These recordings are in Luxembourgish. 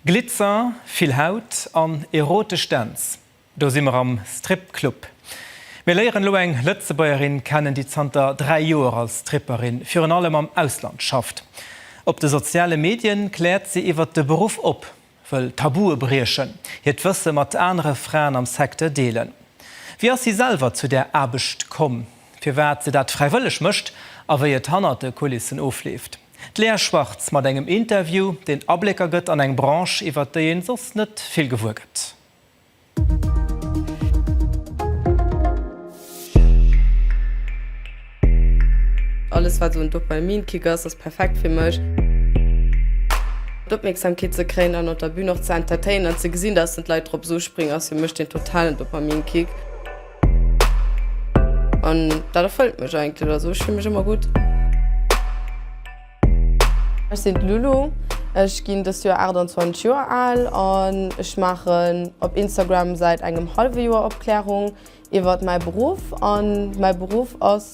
Glitzer, vill Haut an erotesch Dänz, do si mer am Stripclub. Mir léieren elo eng Lëtzebuergerin kennen, déi zanter 3 Joer als Stripperin virun allem am Ausland schafft. Op de soziale Medien kläert si iwwer de Beruff op, wëll Tabue briechen, hiert Wësse mat anere Fraen am Secteur deelen. Wéi ass si selwer zu där Aarbecht komm, firwat se dat fräiwëlleg mécht a wéi et hannert de Kulissen ofleeft? D'Lea Schwartz mat engem Interview, deen Ablécker gëtt an eng Branche, iwwert déi ee soss net vill gewuer gëtt. Alles wat esou en Dopaminkick ass, ass perfekt fir mech. D'Opmierksamkeet ze kréien an op der Bün och ze entertainen an ze gesinn, dass den d'Leit drop esou springen, ass fir mech den totalen Dopaminkick. An dat erfëllt mech eigentlech, also ech fille mech ëmmer gutt. Ech sinn d'Lulu, ech ginn dëst Joer 28 Joer al an ech maachen op Instagram säit engem hallwe Joer Opklärung iwwert mäi Beruff an mäi Beruff ass.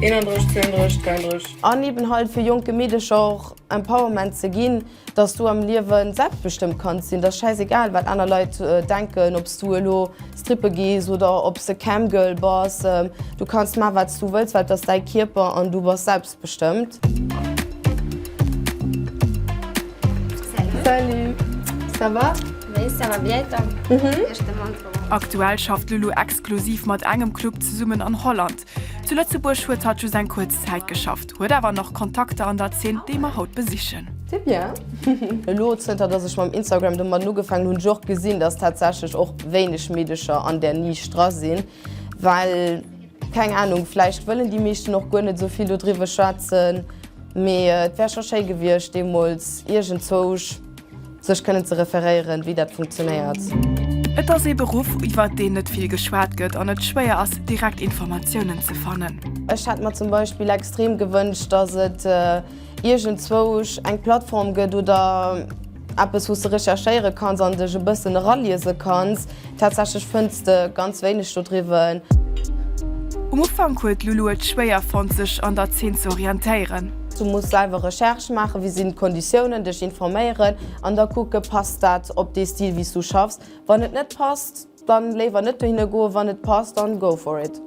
31, 32, 33. An eben halt fir jonke Meedecher och Empowerment ze ginn, dass du am Liewen selbstbestëmmt kanns sinn. Dass schäiss egal wat aner Leit denken, ob s du elo strippe gees oder ob s de Cam Girl bass, du kanns man wat s du wëlls, well et ass däi Kierper an du bass selbstbestëmmt. Salut. Salut. Ça va? Oui, ça va bien et toi? Aktuell schafft d'Lulu exklusiv mat engem Club zesummen an Holland. Zu Lëtzebuerg huet hatt just eng kuerz Zäit geschafft, huet awer nach Kontakter an der Zeen, déi mer haut besichen. C'est bien. Elo zënter dass ech mam Instagram domadden ugefaangen hunn, ech och gesinn, dass tatsächlech och wéineg Meedecher an där Nisch dra sinn, well, keng Ahnung, vläicht wëllen déi meeschten och guer net esou vill dodriwwe schwätzen, mee et wär scho schéi gewiescht deemools iergendzwousch Sech kënnen ze referéieren, wéi dat funktionéiert. Et ass ee Beruff, iwwert deen net vill geschwat gëtt an et schwéier ass, direkt Informatiounen ze fannen. Ech hätt mer zum Beispill extrem gewënscht, dass et iergendzwou eng Plattform gëtt oder eppes, wou s de recherchéiere kanns an dech e bëssen eraliese kanns, Tatsächlech fënns de ganz wéineg dodriwwen. Um Ufank huet d'Lulu et schwéier fonnt sech an der Zeen ze orientéieren. Du muss selwer Recherche maachen, wéi sinn d'Konditiounen, dech informéieren an da kucke passt dat op dee Stil wéi s du schaffs. Wann et net passt, dann léiwer net dohinne goen, wann et passt, dann go for it.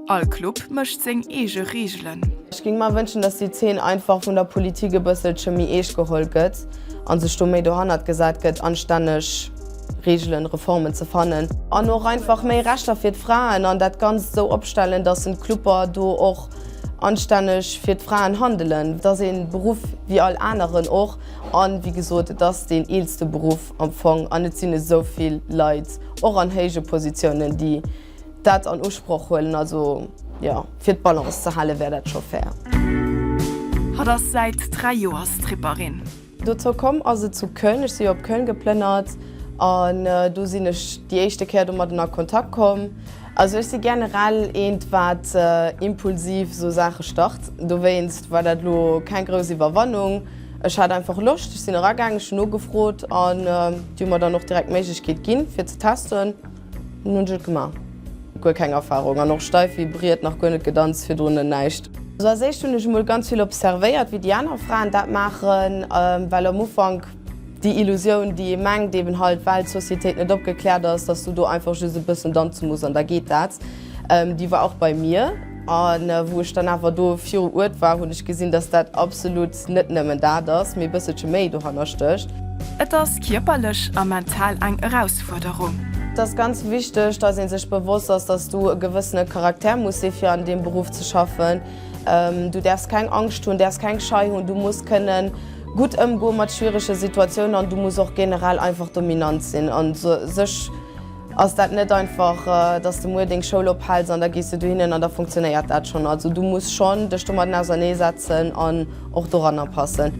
All Club mécht seng eege Reegelen. Ech ging mer wënschen dass déi Zeen einfach vun der Politik e bësselche méi eescht geholl gëtt an sech do méi dohannert gesat gëtt anstänneg Reegelen, Reformen ze fannen. An och einfach méi Rechter fir d'Fraen an dat ganzt esou opstellen dass en d'Cluber do och anstänneg fir d'Fraen handelen. Et ass een Beruff wéi all aneren och an wéi gesot et ass deen eelste Beruff am Fong an et sinn esouvill Leit och an héije Positiounen déi Dat an Usproch huelen, also jo, fir d'Balance ze hale wär dat scho fair. Hatt ass säit 3 Joer Stripperin. Dozou komm ass et zu Köln, ech si jo op Köln geplënnert an do sinn ech déi éischte Kéier domatten a Kontakt komm. Also ech si generell eent, wat impulsiv esou Saache start. Dowéinst war dat elo keng grouss Iwwerwannung. Ech hat einfach Loscht, ech sinn eragaangen, ech hunn nogefrot an déi hu mer dann och direkt d'Méiglechkeet ginn, fir ze testen. Nun ech et gema. Guer keng Erfahrung an och steif wéi Briet, nach guer net gedanzt, virdrun näischt. Also als éischt hun ech emol ganz vill observéiert wéi déi aner Fraen dat maachen, well am Ufank déi Illusioun déi ee mengt eben halt well d'Sociétéit net opgeklärt ass, dass du do einfach just e bëssen danze muss an da geet dat, déi war och bei mir an wou ech dann awer do viru Uert war hun ech gesinn dass dat absolut Net nëmmen dat ass, mee e bësselche méi dohanner stécht. Et ass kierperlech a mental eng Erausfuerderung. Et ass ganz wichteg, dass ee sech bewosst ass, dass du e gewëssene Charakter muss si fir an deem Beruff ze schaffen. Du däerfs keng Angscht hunn, däerfs keng Schei hunn. Du muss kënnen gutt ëmgoe mat schwierege Situatiounen an du muss och generell einfach dominant sinn a sech. Ass dat net einfach, dass de muer deng Schoul ophells an da gees de dohinnen an da funktionéiert dat schonn. Also du muss schonn dech domatten ausernee setzen an och doranner passen.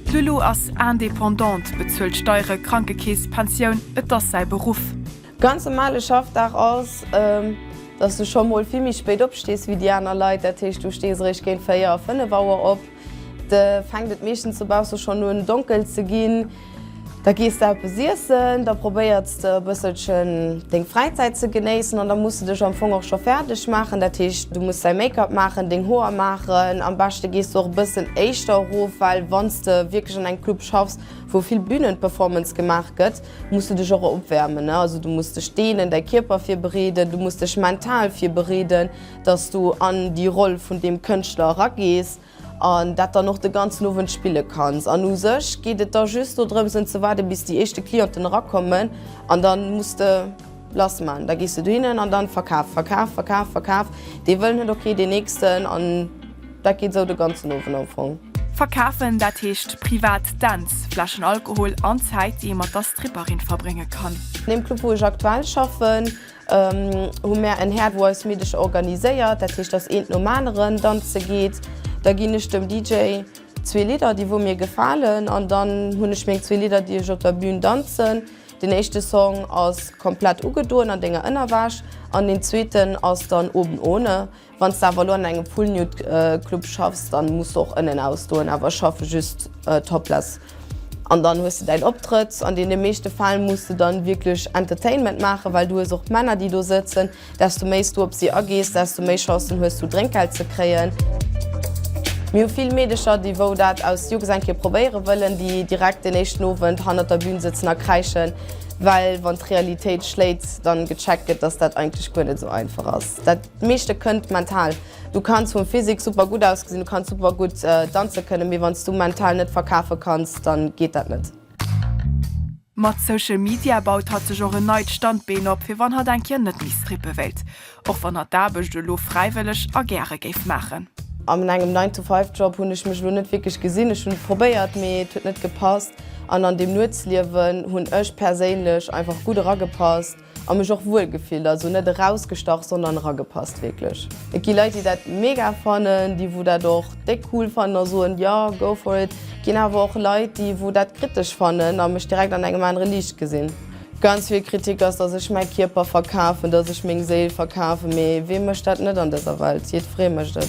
D'Lulu ass Indépendante, bezuelt Steiere, Krankekeess, Pensioun, et ass säi Beruff. Ganz normale Schaffdag ass, dass du scho mol vill méi spéit opstees wéi déi aner Leit. Dat heescht du stees eréischt géint 4, 5 Auer op. Da fänkt et meeschtens dobausse schonn un donkel ze ginn. Da gees de eppes iessen, da probéiers de e bësselchen deng Fräizäit ze genéissen an da muss de dech am Fong och scho fäerdeg maachen. Dat heescht, du muss däi Make-up maachen, deng Hoer maachen. Am beschte gees de och e bëssen éischter erof, well wann s de wierklech an engem Club schaffs, wou vill Bünen-Performance gemaach gëtt, muss de dech och opwäermen. Also du muss dech deenen, däi Kierper virbereeden, du muss dech mental virbereeden. dass du an déi Roll vun deem Kënschtler eragees an dat dann och de ganzen Owend spille kanns. An u sech geet et da just do drëms en ze waarde bis déi éischte Clienten erakommen an da muss de lass man. Da gees de dohinnen an dann verkaf, verkaf, verkaf, verkaf, dee wëllen huet och kee deen nächsten an dat geet esou de ganzen Owend am Fong. Verkafen, dat heescht privat Dänz, Fläschen Alkohol an Zäit, déi ee mat der Stripperin verbrénge kann. An deem Club wou ech aktuell schaffen, Hu mär en Häert wou eis Middeg organiséiert, dat heescht dass eent nom aneren danze geet. Da ginn ech dem DJ zwee Lidder déi wou mir gefalen an dann hunn ech meng zwee Lidder déi ech op der Bün danzen. Den éischte Song ass komplett ugedoen an denger Ënnerwäsch an den zweeten ass dann oben ohne. Wann s de awer elo an engem Poolnude-Club schaffs, dann muss de och ënnen ausdoen, awer schaffe just topless. An dann hues de däin Optrëtt. An deene meeschte Fäll muss de dann wierklech Entertainment maachen, well du hues och Männer, déi do sëtzen. Desto méi s du op si agees, desto méi Chancen hues du, Drénkgeld ze kréien. Mir hu vill Meedecher, déi, wou dat aus Jux eng Kéier probéiere wëllen, déi direkt deen éischten Owend hannert der Bün sëtzen a kräischen, well wann d'Realitéit schléit, dann gecheckt gëtt, dass dat eigentlech guer net esou einfach ass. D'meeschte kënnt mental. Du kanns vum Physique super gutt ausgesinn, du kanns super gutt danze kënnen, mee wann s du mental net verkafe kanns, dann geet dat net. Mat Social Media baut hatt sech och en neit Standbeen op, fir wann hatt eng Kéier net méi strippe wéilt. Och wann hatt d'Aarbecht elo fräiwëlleg a gäre géif maachen. An engem Nine-to-Five-Job hunn ech mech elo net wierklech gesinn. Ech hunn et probéiert, mee et huet net gepasst. An an deem Nuetsliewen hunn ech perséinlech einfach gutt eragepasst. An mech och wuel gefillt, also net erausgestach, sondern eragepasst wierklech. Et gi Leit déi dat mega fannen, déi wou dat och déck cool fannen a soen jo go for it. Et ginn awer och Leit déi wou dat kritesch fannen a mech direkt an engem anere Liicht gesinn. Ganz vill Kritik ass dass ech mäi Kierper verkafen, dass ech meng Séil verkafen, mee wee mécht dat net an dëser Welt? Jiddweree mécht et.